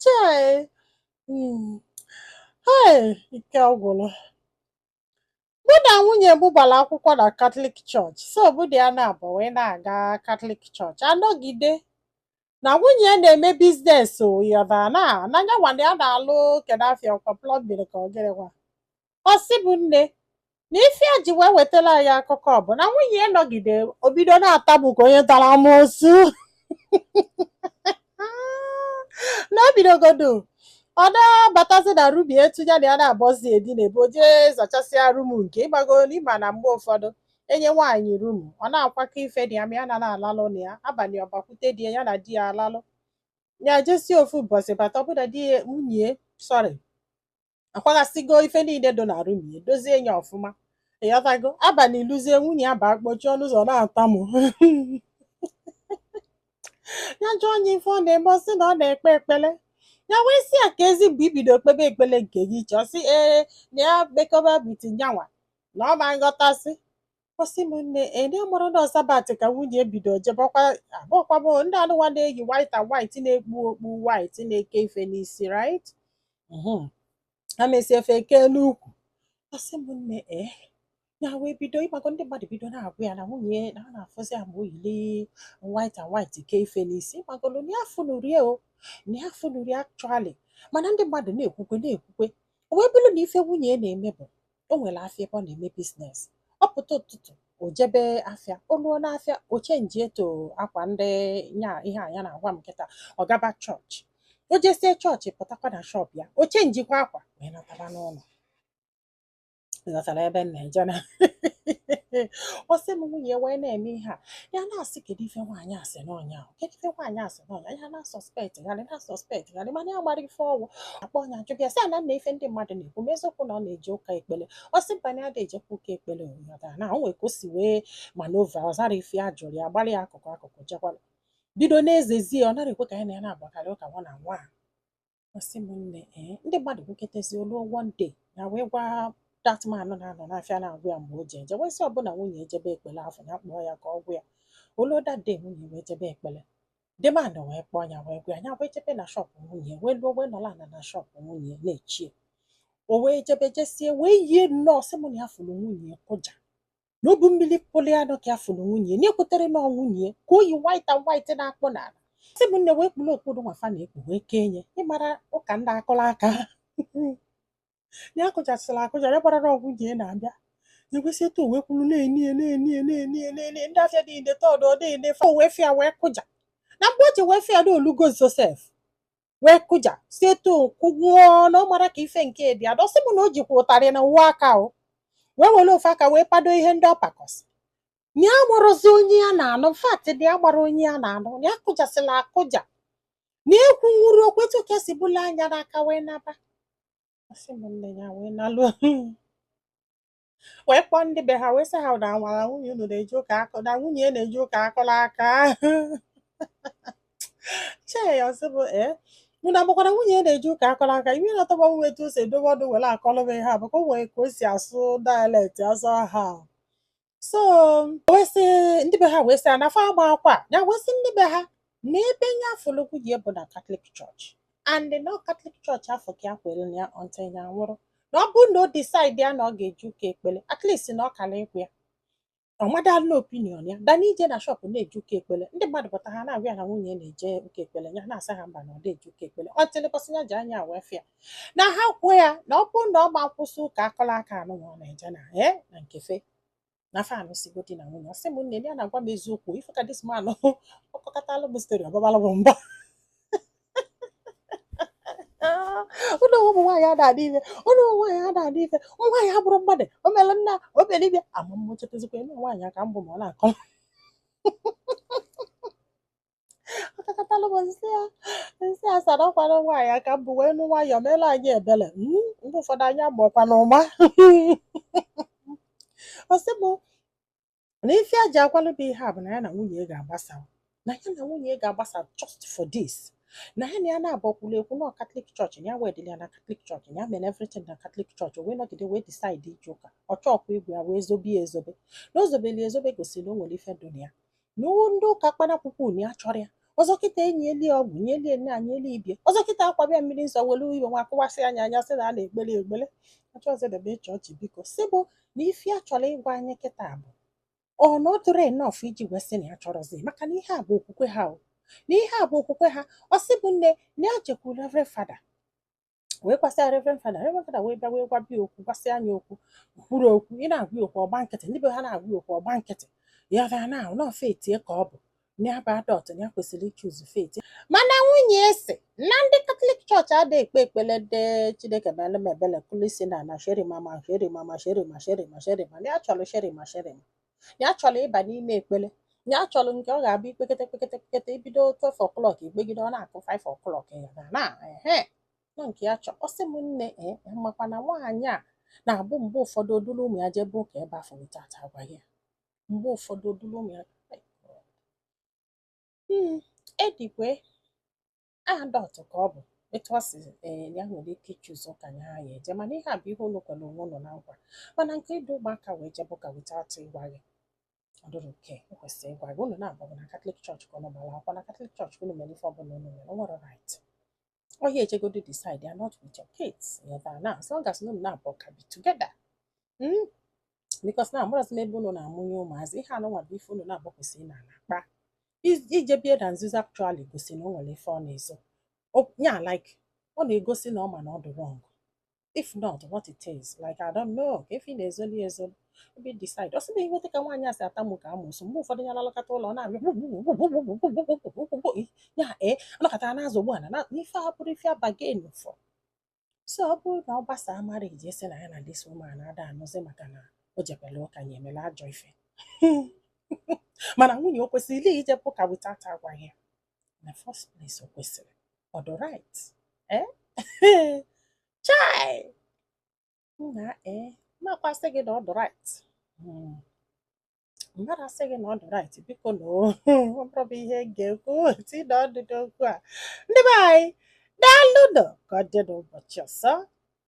chai hei. ike ọgwụrụ mụ na nwunye m gbara akwụkwọ na katọlik chọọchị so mụ na ya naabọ wee na-aga katọlik chọọchị anọgide na nwunye ya na-eme biznes ya bụ na na yanwa na ya na-alụ kedu ife a ọkwa plọmbin ka ọ gịnịkwa ọ sị m nne na ife a ji wee wetara anyị akụkọ bụ na nwunye ya nọgide o bido na-atamụ ka onye tara amoosu na o bidogodu ọ na-abatazi na rum etu ya na ya naabọ si edinabu o jee zachasịa rum nke ịmago ịma na mgbe ụfọdụ enye nwaanyị rum ọ na-akwakọ ife dị ya ma ya na na-alalụ na ya abalị ọ bakwute di ya ya na di ya alalụ ya jesie ofu ụbọchị bata ọbụna di ya nwunye sọrị akwaghasịgo ife niile dị na rum ya dozie ya ọfụma ịghọtago abalị eluzie nwunye ya baa kpọchie ọnụ ụzọ na-atamụ ya jụọ nwunye ife ọ na-eme ọ sị na ọ na-ekpe ekpele ya wee sị ya keezi mgbe i bido kpebe ekpele nke gị iche ọ sị ee na ya mekọba bitin yanwa na ọ ma-aghọtasị ọ sị m nne ee amarọ na ọ sabat ka nwunye bido jebe ọkwa ịma ọkwa ịma ndị anụwa na-eyi white and white na-ekpu okpu white na-eke ife n'isi right Mhm. ha mesie efe kee n'ukwu ọ sị m nne ee ya wee bido ịmago ndị mmadụ bido na-agwa ya na nwunye na ha na-afụzi ya ma o yili white and white kee ife n'isi ịmagonu na ya afụnurọ ya o na ya afụnurọ ya actually mana ndị mmadụ na-ekwukwe na-ekwukwe o wee bụrụ na ife nwunye ya na-eme bụ o nwere afịa ebe ọ na-eme biznes ọ pụta ụtụtụ o jebe afịa o luo n'afịa o chenji into akwa ndị nya ihe a ya na-agwa m kịta ọ gaba chọọchị o jesie chọọchị pụtakwa na shọp ya o chenjikwa akwa wee nataba n'ụnọ Ị ghọtara ebe m na-eje na ọ sị m nwunye wee na-eme ihe a ya na-asị kedu ife nwaanyị a sị na ọ nya kedu ife nwaanyị a sị ya na-asọspektgharị na-asọspektgharị mana ya amarọ ife ọ bụ akpọọ nwunye ajụba ya sị ya na ife ndị mmadụ na-ekwu ma eziokwu na ọ na-eje ụka ekpele ọ sị mba na ada ejekwa ụka ekpele ịghọta na o nwere ka o si wee manova ọ zarọ ife ya jụrụ ya gbara ya akụkụ akụkụ jekwala bido na-ezezi ọ nara ekwe ka ya na ya na-akpakarị ụka one on one Ọ sị m nne ee eh, ndị mmadụ kwuketezie o luo one day ya wee gwa dat man na-anọ n'afịa na-agwa ya mgbe o ji eje wee sị ọbụna nwunye ejebe ekpele afụ ya kpọọ ya ka ọ gwa ya o luo dat day nwunye wee jebe ekpele the man wee kpọọ ya wee gwa ya ya wee jebe na shọpụ nwunye wee luo wee nọlọ na na shọpụ nwunye na-eche ya o wee jebe jesie wee yie nnọọ ọ sị m na ya fụrụ nwunye kụja na o bu mmiri pụlụ ya nọ ka ya fụrụ nwunye ya na ya ekwetarọ na ọ nwunye ya ka o yi white and white na-akpụ n'ala sị m nne wee kpuru okpu nụnwa fa na-ekpu wee kee nne ị mara ụka ndị akụla aka ya akụjasịla akụja ya amarọ na ọ nwunye ya na-abịa o wee si etu o wee kwụrụ na-ene ya na-ene ya na-ene ya na-ene ya ndị afịa niine tọdụ ọ na-ene fa o wee fụ ya wee kụja na mgbe o ji wee fụ ya na olugo Josef wee kụja si etu kụgwụọ na ọ mara ka ife nke dị adọ ọ sị m na o jikwa ụtarị na ofu aka o wee were ofu aka wee pado ihe ndị ọ pakọ sị na ya amarọzi onye ya na-anụ fact na ya amarọ onye ya na-anụ na ya kụjasịla akụja na ekwunwurọ okwu etu ka esi bụla anya n'aka wee naba ọ sị m nne ya wee nalu wee kpọọ ndị be ha wee sị ha na nwara nwunye unu na-eje ụka akụ na nwunye ya na-eje ụka akụla aka chai ọ sị mụ ee unu amakwa na nwunye ya na-eje ụka akụla aka ife na-atọ m bụ etu o si edobe ọnụ were akọlụ m ihe a maka o nwere ka o si asụ dialect asụ aha so wee sị ndị be ha wee sị ya na fa amakwa na wee sị ndị be ha n'ebe nya fụlụ nwunye ya bụ na katọlik chọọchị and na katọlik chọọchị afụ ka ya kwere na ya until ya nwụrụ na ọ bụrụ na o decide ya na ọ ga-eje ụka ekpele at least na ọ kara ịgwa ya ọ madala na opinion ya than ije na shọpụ na-eje ụka ekpele ndị mmadụ pụta ha na-agwa ya na nwunye ya na-eje ụka ekpele ya na-asa ha mba na ọ na-eje ụka ekpele until ụbọsị ya ji anya wee fụ ya na ha kwuo ya na ọ bụrụ na ọ ma akwụsị ụka akụla aka nụnwa ọ na-eje na ee na nkefe na fa anụsịgo di na nwunye ọ sị m nne ya na-agwa m eziokwu ife ka this man ọ kọkatalụ m story ọ babalụ m mba unu ụmụ nwaanyị a na-adị ife unu ụmụ nwaanyị a na-adị ife ụmụ nwaanyị abụrọ mmadụ o mere nna o mere ibe ya ama m ma o chefuzikwa na nwaanyị ka m bụ ma ọ na-akọ ọ kọkatalụ m sị ya m sị ya sir ọ kwa nwaanyị ka m bụ wee nụ nwayọọ meelụ anyị ebele Mm, mgbe ụfọdụ anyị amarọkwanụ ụma ọ sị m na ife ya ji akọlụ mụ ihe a bụ na ya na nwunye ya ga-agbasa na ya na nwunye ya ga-agbasa just for this na ya na ya naabọ kwulu ekwu na katọlik chọọchị ya wedịrị ya na katọlik chọọchị ya mere everything na katọlik chọọchị o wee nọgide wee decide ije ụka ọ chọọkwa ịgwa ya wee zobe ya ezobe na o zobeli ezobe gosiri na o nwere ife dị na ya na ndị ụka kpanakwụkwọ unu ya chọrọ ya ọzọ kịta e nye elie ọgwụ nye elie nna nye elie ibe ya ọzọ kịta akwaba ya mmiri nsọ were ife nwa akụwasị anya anya sị na a na-ekpele ekpele achọzedebe chọọchị biko sị mụ na ife a chọrọ ịgwa anyị kịta bụ ọ na ọ dịrị enough iji wee sị na ya achọrọzi maka na ihe a bụ okwukwe ha o na ihe a bụ okwukwe ha ọ sị mụ nne na ya jekwuru reverend fada wee gwasịa reverend fada reverend fada wee bịa wee gwabe ya okwu gwasịa ya okwu kwuru okwu ị na-agwa ya okwu ọ gba nkịtị ndị be ha na-agwa ya okwu ọ gba nkịtị ya bịa na ahụ na ọ faith ya ka ọ bụ ya bụ adult ya kwesịrị ichoose faith ya mana nwunye ya asị na ndị katọlik chọọchị ada ekpe ekpele dị chineke meere m ebele kulisi na na sherima ma sherima ma sherima sherima sherima ya chọrọ sherima sherima ya chọrọ ịba n'ime ekpere ya chọrọ nke ọ ga-abụ i kpekete kpekete kpekete i bido 12 o'clock i kpegide ọ na-akụ 5 o'clock ya na na ehe na nke ya chọ ọ sị m nne ee e, makwa na nwaanyị a na-abụ mgbe ụfọdụ o dulu ụmụ ya jebe ụka ebe afụ without agwa ya mgbe ụfọdụ o dulu ụmụ ya hmm, edikwe adult ka ọ bụ etu ọ si ee ya nwere ike ichoose ụka nya ya-eje mana ihe a bụ ihe unu kwere onwe unu na nkwa mana nke idu ụmụaka wee jebe ụka without ịgwa gị ọ dị wrong o kwesịrị ịgwa gị unu naabọ na katọlik chọọchị ka unu gbara akwụkwọ na katọlik chọọchị unu mere ife ọbụla unu mere o nwere right onye ejegodi decide ya not with your kids not as long as unu naabọ ka bi together Mm, because na amarọzi m ebe unu na-amụnye ụmụazị ihe anụnwa bụ ife unu naabọ kwesịrị ịnọlọ kpaa ije bie na nzuzo actually gosi na o nwere ife ọ na-ezo O- ya like ọ na-egosi na ọ ma na ọ dị wrong if not what it is like I don't know ka ife ị na-ezoli ezo ebe decide ọ sị na iweta ka nwaanyị a si atamu ka amosu mgbe ụfọdụ ya lalakọta ụlọ ọ na-abịa ya ee anọkọtara na-azụ ugbu a na ife a abụrọ ife a bargain for so ọ bụrụ na ọ gbasaa marriage a sị na ya na this woman ada anụzi maka na o jebelu ụka ya emela ajọ ife mana nwunye o kwesịrị ijebe ụka without agwa ya na first place o kwesịrị ọ dị right eh? chai nna ee eh, m makwa asị gị na ọ dị right hmm. mmadụ asị gị na ọ dị right biko na amarọ m ihe m ga-ekwute na ụdịdị okwu a ndị be anyị daalụnụ ka ọ dị n'ụbọchị ọzọ